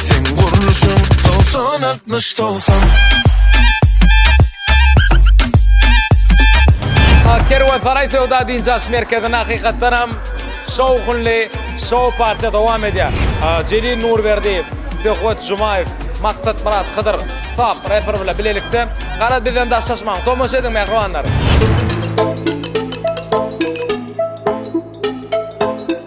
Seň gurluşyň togsan altmyş togsan Kerwen Saray Söwda Dinç Aş Merkezinde hakykatdan hem şowhunly şow partiýa dowam edýär. Jelil Nurberdiýew, Söhbet Jumaýew, Maksat Murat Hydyr, Sap reper bilen bilelikde gara bizden daşlaşmaň. Tomaşa ediň mähribanlar.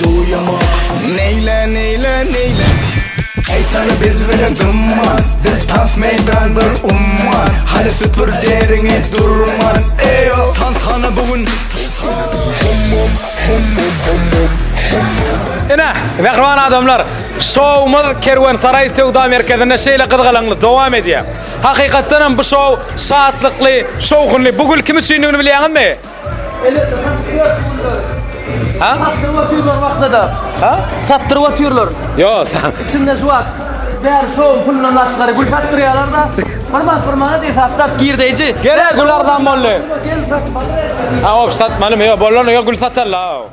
Neýle neýle neýle Gaýtany biz bilen dymman Biz tans meýdan bir umman Hany süpür deriňi durman Eýo Tans hany bu gün Ine, mähriban adamlar, şowumyz Kerwensaraý söwda merkezinde şeýle gyzgalaňly dowam edýär. Hakykatdan hem bu şow şatlykly, şowhunly. Bu gül kim üçindigini bilýäňizmi? Ha? Satdyryp atýarlar wagtda-da. Ha? Satdyryp atýarlar. Yo, sen. Şunda şu wagt bär şow pulundan başgary gül satdyrýarlar-da. Bir manat bir manat esaslar girdeýji. Gel, gül arzan boldy. Ha, o satmaly, yo, bolany yo gül satarlar.